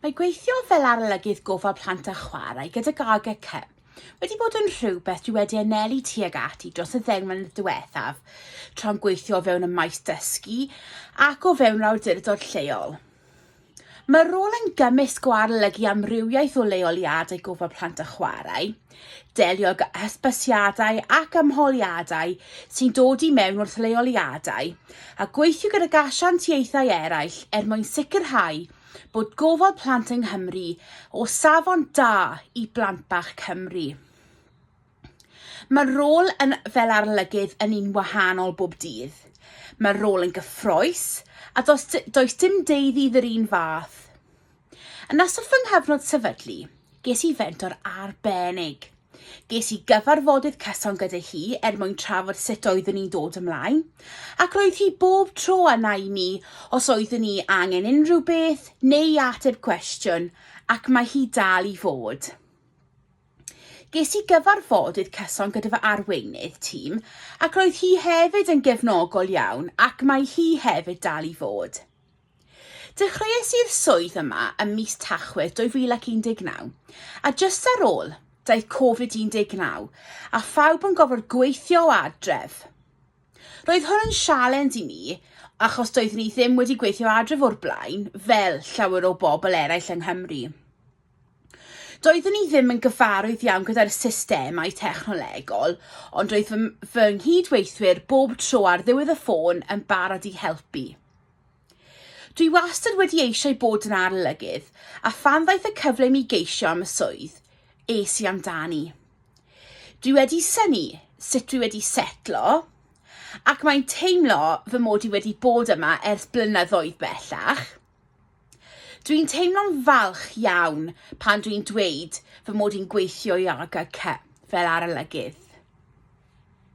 Mae gweithio fel arolygydd gofal plant a chwarae gyda Gaga Cy wedi bod yn rhywbeth dwi wedi anelu tuag ati dros y ddeng mlynedd diwethaf, tra'n gweithio o fewn y maes dysgu ac o fewn awdurdod lleol. Mae'r rôl yn gymysg o arolygu amrywiaeth o leoliadau gofal plant a chwarae, Delio gyda hysbysiadau ac ymholiadau sy'n dod i mewn wrth leoliadau a gweithio gydag asiantiaethau eraill er mwyn sicrhau bod gofal plant yng Nghymru o safon da i blant bach Cymru. Mae'r rôl yn fel arolygydd yn un wahanol bob dydd. Mae'r rôl yn gyffroes a does, does dim deuddydd yr un fath. Yn ystod fy nghyfnod sefydlu, ges i fentor arbennig. Ges i gyfarfodydd cyson gyda hi er mwyn trafod sut oeddwn i'n dod ymlaen, ac roedd hi bob tro a i mi os oeddwn i angen unrhyw beth neu i ateb cwestiwn, ac mae hi dal i fod. Ges i gyfarfodydd cyson gyda fy arweinydd tîm, ac roedd hi hefyd yn gefnogol iawn ac mae hi hefyd dal i fod. Dechreuais i'r swydd yma ym mis Tachwedd 2019, a jyst ar ôl, daeth Covid-19, a phawb yn gorfod gweithio o adref. Roedd hwn yn sialens i mi, achos doeddwn i ddim wedi gweithio adref o'r blaen, fel llawer o bobl eraill yng Nghymru. Doeddwn i ddim yn gyfarwydd iawn gyda'r systemau technolegol, ond roedd fy, fy nghyd-weithwyr bob tro ar ddiwedd y ffôn yn barod i helpu. Dwi wastad wedi eisiau bod yn arolygydd, a phan ddaeth y cyfle i mi geisio am y swydd, es i amdani. Dwi wedi syni sut dwi wedi setlo, ac mae'n teimlo fy mod i wedi bod yma ers blynyddoedd bellach. Dwi'n teimlo'n falch iawn pan dwi'n dweud fy mod i'n gweithio i AGC fel arolygydd.